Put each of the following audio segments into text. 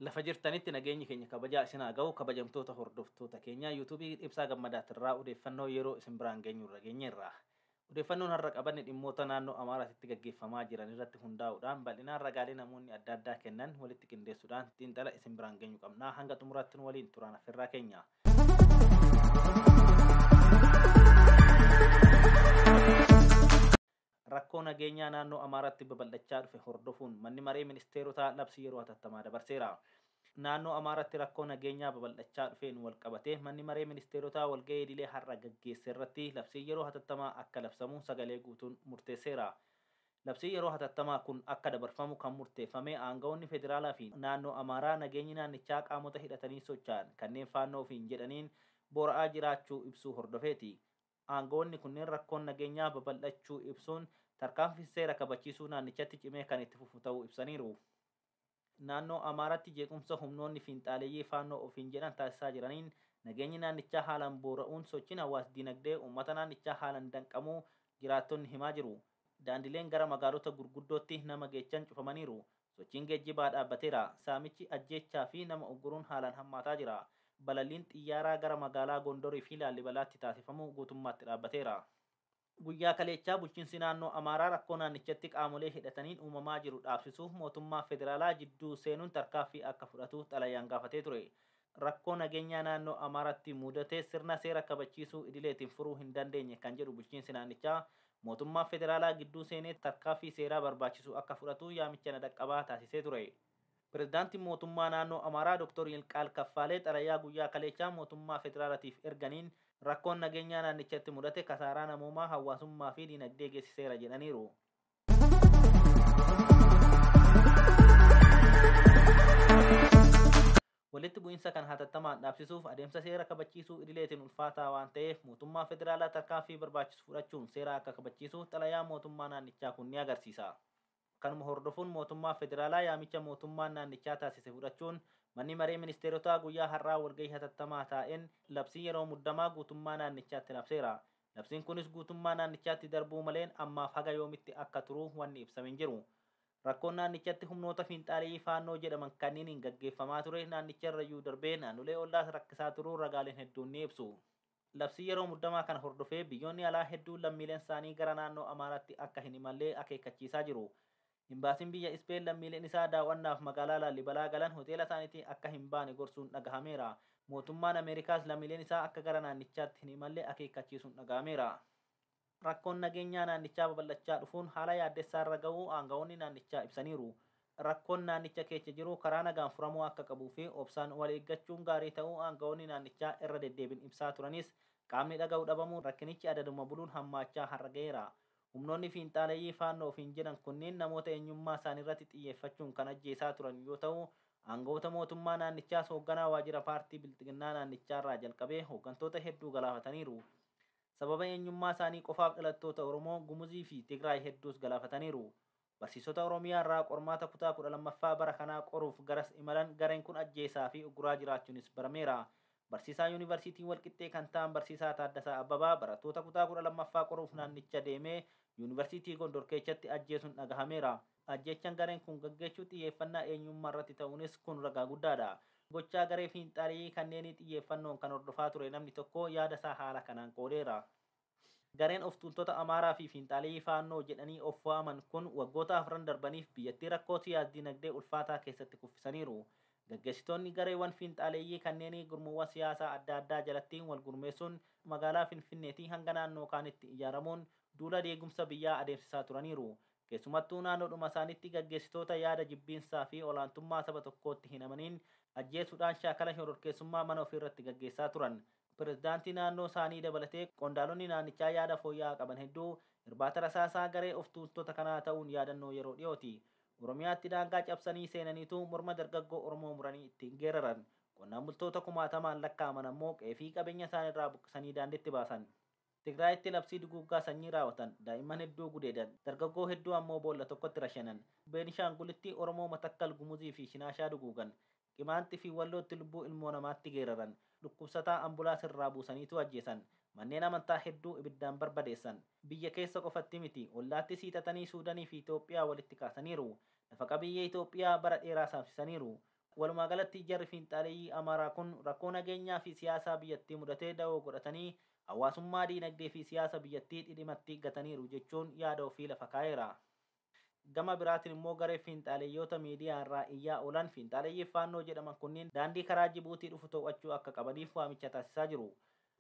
lafa jirtanitti nageenyi keenya kabajaa isin haa ga'u kabajamtoota hordoftoota keenyaa yuutuubii ibsaa gammadaatirraa odeeffannoo yeroo isin biraan geenyu irra geenyeerra Odeeffannoon har'a qabanne dhimmoota naannoo Amaaraatitti gaggeeffamaa jiran irratti hundaa'uudhaan bal'inaan ragaalee namoonni adda addaa kennan walitti qindeessuudhaan xiinxala isin biraan geenyu qabna. Hanga xumuraatti nu waliin turaan affeerraa keenya. Rakkoo nageenyaa naannoo Amaaraatti babal'achaa dhufe hordofuun manni maree ministeerotaa labsii yeroo hatattamaa dabarseera. Naannoo Amaaraatti rakkoo nageenyaa babal'achaa dhufeen walqabatee Manni Maree Ministeerotaa walga'ii idilee har'a gaggeesserratti labsiin yeroo hatattamaa akka labsamu sagalee guutuun murteesseera. Labsiin yeroo hatattamaa kun akka dabarfamu kan murteeffame aanga'oonni federaalaa fi naannoo Amaaraa nageenyi naannichaa qaamota hidhatanii socha'an kanneen Faannoo ofiin jedhaniin boora'aa jiraachuu ibsuu hordofeeti. Aanga'oonni kunneen rakkoon nageenyaa babal'achuu ibsuun tarkaanfiin seera kabachiisuu naannichatti cimee kan itti fufu ta'uu ibsaniiru. Naannoo Amaaraatti jeequmsa humnoonni fiinxaaleyyii Faannoo ofiin jedhan taasisaa jiraniin nageenyi naannichaa haalaan boora'uun sochiin hawaas-diinagdee uummata naannichaa haalan danqamuu jiraattonni himaa jiru. Daandileen gara magaalota gurguddootti nama geechan cufamaniiru. Sochiin geejjibaa dhaabbateera. Saamichi, ajjeechaa fi nama ugguruun haalaan hammaataa jira. Balalliin xiyyaaraa gara magaalaa Gondor fi Laallibalaatti taasifamu guutummaatti dhaabbateera. Guyyaa kaleechaa bulchiinsi naannoo Amaaraa rakkoo naannichatti qaamolee hidhataniin uumamaa jiru dhaabsisuuf mootummaa federaalaa jidduu seenuun tarkaaffii akka fudhatu xalayaan gaafatee ture. Rakkoo nageenyaa naannoo Amaaraatti muudate sirna seera kabachiisuu idileetiin furuu hin dandeenye kan jedhu bulchiinsi naannichaa, mootummaa federaalaa gidduu seenee tarkaaffii seeraa barbaachisu akka fudhatu yaamicha na dhaqqabaa taasisee ture. Pirezidaantiin Mootummaa Naannoo Amaaraa Doktor Yilqaal Kaffaalee xalayaa guyyaa kaleechaa mootummaa federaalatiif erganiin rakkoon nageenyaa naannichatti mudate kasaaraa namoomaa, hawaasummaa fi dinagdee geessiseera jedhaniiru. Walitti bu'iinsa kan hatattamaan dhaabsisuuf adeemsa seera kabachiisuu idileetiin ulfaataa waan ta'eef mootummaa federaalaa tarkaanfii barbaachisu fudhachuun seera akka kabachiisu xalayaa mootummaa naannichaa kun ni agarsiisa. Kanuma hordofuun mootummaa federaalaa yaamicha mootummaan naannichaa taasise fudhachuun Manni Maree Ministeerotaa guyyaa har'aa walgahii hatattamaa taa'een labsii yeroo muddamaa guutummaa naannichaatti labseera. Labsiin kunis guutummaa naannichaatti darbuu maleen ammaaf haga yoomitti akka turu wanni ibsame hin jiru. Rakkoon naannichatti humnoota fiinxaaleyyii Faannoo jedhaman kanniiniin gaggeeffamaa ture naannicharrayyuu darbee naannolee ollaas rakkisaa turuu ragaaleen hedduun ni ibsu. Labsii yeroo muddamaa kana hordofee biyyoonni alaa hedduun lammiileensaanii gara naannoo Amaaraatti akka hin imalle akeekkachiisaa jiru. Imbaasiin biyya Ispeen lammiileen isaa daaw'annaaf magaalaa Laallibalaa galan hoteelasaaniitii akka hin baane gorsuun dhagahameera. Mootummaan Ameerikaas lammiileen isaa akka gara naannichaatti hin imalle akeekkachiisuun dhagahameera. Rakkoon nageenyaa naannichaa babal'achaa dhufuun haala yaaddessaa irra ga'uu aanga'oonni naannichaa ibsaniiru. Rakkoon naannicha keecha jiru karaa nagaan furamuu akka qabuu fi obsaan wal eeggachuun gaarii ta'uu aanga'oonni naannichaa irra deddeebiin ibsaa turanis qaamni dhaga'u dhabamuun rakkinichi adaduma buluun hammaachaa har'a ga'eera. Humnoonni fiinxaaleyyii Faannoo ofiin jedhan kunniin namoota eenyummaa isaaniirratti xiyyeeffachuun kan ajjeesaa turan yoo ta'u, aanga'oota mootummaa naannichaas hoogganaa waajjira paartii Bilxiginnaa naannichaarraa jalqabee hooggantoota hedduu galaafataniiru. sababa eenyummaa isaanii qofaaf dhalattoota Oromoo, Gumuzii fi Tigraay hedduus galaafataniiru. Barsiisota Oromiyaa irraa qormaata kutaa 12ffaa bara kanaa qoruuf garas imalan gareen kun ajjeesaa fi ugguraa jiraachuunis barameera. Barsiisaa Yuunivarsiitii Walqixxee kan ta'an Barsiisaa Taaddasaa Abbabaa barattoota kutaa 12ffaa qoruuf naannicha deemee Yuunivarsiitii Gondor keechatti ajjeesuun dhagahameera. Ajjeechaan gareen kun gaggeessu xiyyeeffannaa eenyummaa irratti ta'uunis kun ragaa guddaadha. Gochaa garee fiinxaaleyyii kanneenii xiyyeeffannoon kan hordofaa ture namni tokko yaada isaa haala kanaan qoodeera. Gareen of tuultota Amaaraa fi fiinxaaleyyii Faannoo jedhanii of waaman kun waggoota afran darbaniif biyyattii rakkoo siyaas-dinagdee ulfaataa keessatti kuffisaniiru. Gaggeessitoonni gareewwan fiinxaaleyyii kanneenii gurmuuwwan siyaasaa adda addaa jalatti wal gurmeessuun magaalaa Finfinneetii hanga naannoo kaanitti ijaaramuun duula diigumsa biyyaa adeemsisaa turaniiru. keessumattuu naannoodhuma isaaniitti gaggeessitoota yaada jibbiinsaa fi olaantummaa saba tokkootti hin amaniin ajjeesuudhaan shaakala shororkeessummaa mana ofiirratti gaggeessaa turan. Pirezidaantii naannoo isaanii dabalatee qondaalonni naannichaa yaada fooyya'aa qaban hedduu irbaata rasaasaa garee of tuultota kanaa ta'uun yaadannoo yeroo dhiyooti. Oromiyaatti daangaa cabsanii seenaniitu morma dargaggoo Oromoo muranii ittiin geeraran. Qonnaan bultoota kumaatamaan lakkaa'aman ammoo qe'ee fi qabeenya isaaniirraa buqqisanii daandiitti baasan. Tigraayitti labsii duguuggaa sanyii raawatan, daa'imman hedduu gudeedan, dargaggoo hedduu ammoo boolla tokkotti rashanan, Beenishaangulitti Oromoo Matakkal, Gumuzii fi Shinaashaa duguugan, Qimaanxi fi Wallootti lubbuu ilmoo namaatti geeraran, dhukkubsataa ambulaas irraa buusaniituu ajjeesan, manneen amantaa hedduu ibiddaan barbadeessan. Biyya keessa qofatti miti, ollaattis hiixatanii Suudanii fi Itoophiyaa walitti kaasaniiru. Lafa qabiyyee Itoophiyaa bara dheeraa saamsisaniiru. Walumaagalatti jarri fiinxaaleyyii Amaaraa kun rakkoo nageenyaa fi siyaasaa biyyattii mudate dawoo godhatanii hawaasummaa, diinagdee fi siyaasa biyyattii dhidhimatti gataniiru jechuun yaada ofii lafa kaa'eera. Gama biraatiin immoo garee fiinxaaleyyoota miidiyaa irraa iyyaa oolan fiinxaaleyyiif Faannoo jedhaman kunniin daandii karaa Jibuutii dhufu too'achuu akka qabaniif waamicha taasisaa jiru.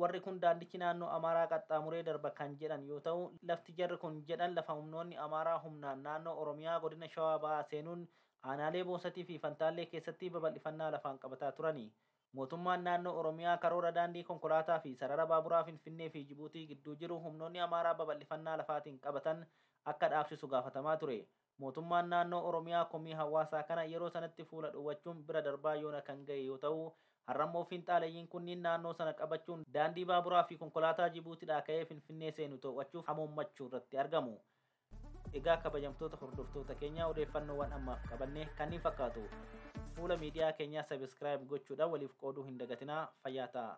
Warri kun daandichi naannoo Amaaraa qaxxaamuree darba kan jedhan yoo ta'u, lafti jarri kun jedhan lafa humnoonni Amaaraa humnaan naannoo Oromiyaa godina Shawaa Bahaa seenuun aanaalee Boosatii fi Fantaallee keessatti babal'ifannaa lafaan qabataa turani. Mootummaan naannoo Oromiyaa karoora daandii konkolaataa fi sarara baaburaa Finfinnee fi Jibuutii gidduu jiru humnoonni Amaaraa babal'ifannaa lafaatiin qabatan akka dhaabsisu gaafatamaa ture. Mootummaan Naannoo Oromiyaa komii hawaasaa kana yeroo sanatti fuula dhowwachuun bira darbaa yoona kan gahe yoo ta'u, har'ammoo fiinxaaleyyiin kunniin naannoo sana qabachuun daandii baaburaa fi konkolaataa Jibuutidhaa ka'ee Finfinnee seenu too'achuuf hamoommachuu irratti argamu. Egaa kabajamtoota hordoftoota keenyaa odeeffannoowwan ammaaf qabanne kanniin fakkaatu. Fuula miidiyaa keenyaa subscribe gochuudhaan waliif qooduu hin dagatinaa. Fayyaa ta'aa!